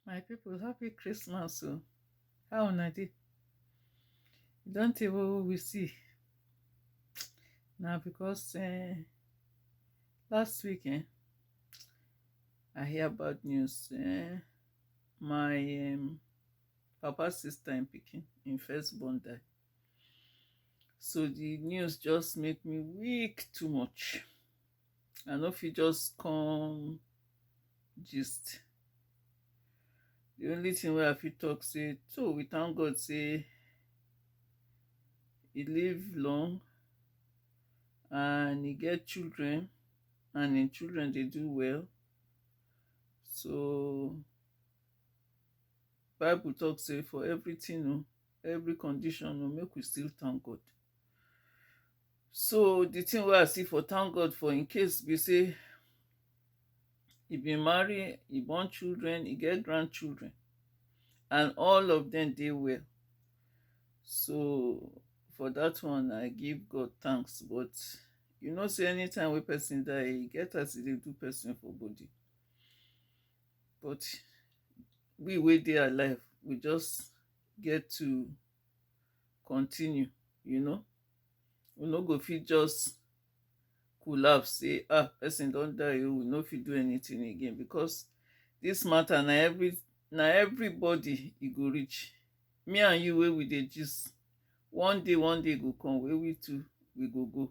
my people happy christmas o how una dey e don tey wey we see na because um last week um i hear bad news um my um papa sister im pikin im first born die so the news just make me weak too much I no fit just come gist. The only thing wey I fit talk say, so we thank God say he live long and he get children and him children dey do well. So Bible talk say for everything, oh, every condition, oh, make we still thank God. so the thing wey i see for thank god for im case be say e bin marry e born children e get grandchildren and all of them dey well so for that one i give god thanks but you know say anytime wey person die e get as e dey do person for body but we wey dey alive we just get to continue you know we no go fit just collapse say ah person don die oh we no fit do anything again because this matter na every na everybody e go reach me and you wey we dey gist one day one day go come wey we too we go go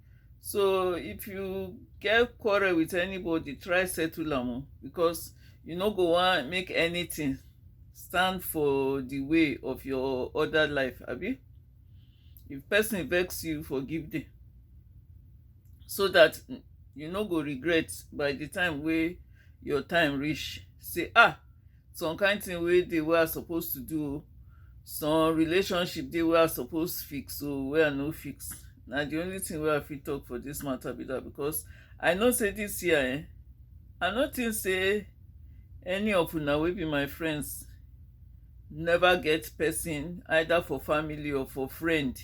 so if you get quarrel with anybody try settle am o because you no go wan make anything stand for the way of your other life abi if person vex you forgive them so that you no go regret by the time wey your time reach say ah Some kind thing wey dey wey I suppose to do o. Some relationship dey wey I suppose fix o, wey I no fix. Na the only thing wey I fit talk for this matter be that because I know say this year eh, I no think say any of una wey be my friends never get person either for family or for friend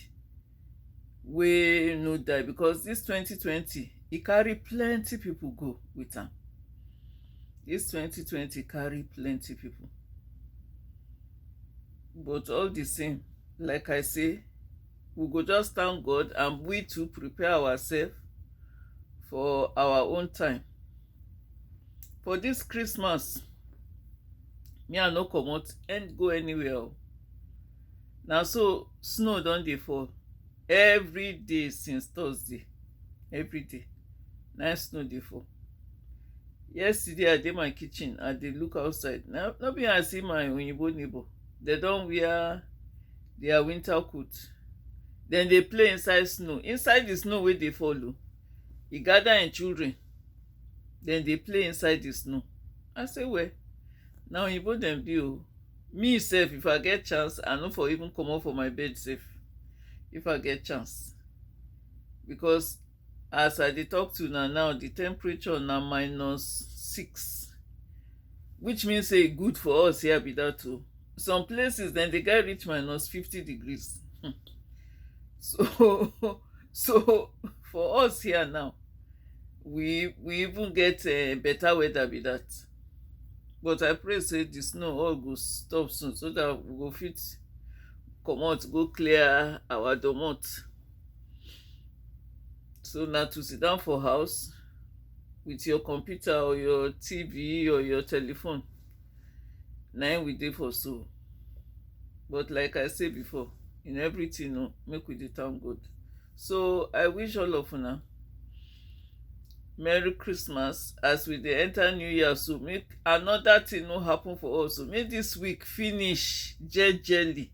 wey no die because this twenty twenty e carry plenty people go with am this twenty twenty carry plenty people but all the same like i say we go just thank god and we to prepare ourselves for our own time for dis Christmas me I no comot and go anywhere o na so snow don dey fall every day since Thursday every day na snow dey fall yesterday I dey my kitchen I dey look outside na no be I see my oyinbo neighbor dem don wear their winter coat dem dey play inside snow inside the snow wey dey fall o e gather im children dem dey play inside the snow i say well na oyibo dem be o me sef if i get chance i no for even comot for my bed sef if i get chance because as i dey talk to una now the temperature na minus six which mean say e good for us here be that o some places dem dey get reach minus fifty degrees um so so for us here now we we even get um better weather be that but I pray say the snow all go stop soon so that we go fit comot go clear our domot so na to sit down for house with your computer or your TV or your telephone na im we dey for so but like I say before in everything oh make we dey thank God so I wish all of una merry christmas as we dey enter new year so make another thing no happen for us o make this week finish jejely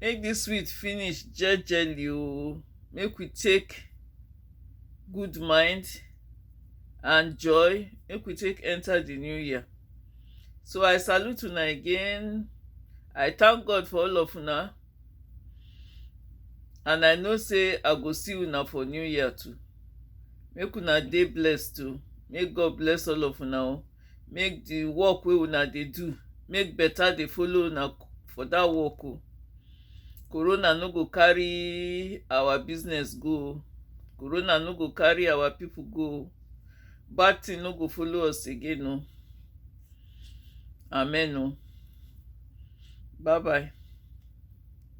make this week finish jejely o make we take good mind and joy make we take enter the new year. So I salute una again. I thank God for all of una. And I know say I go see una for new year too. Make una dey blessed too. Make God bless all of una. o. Make the work wey una dey do, make better dey follow una for that work o. Corona no go carry our business go o. Corona no go carry our people go o. Bad thing no go follow us again o. Amen o. Bye bye.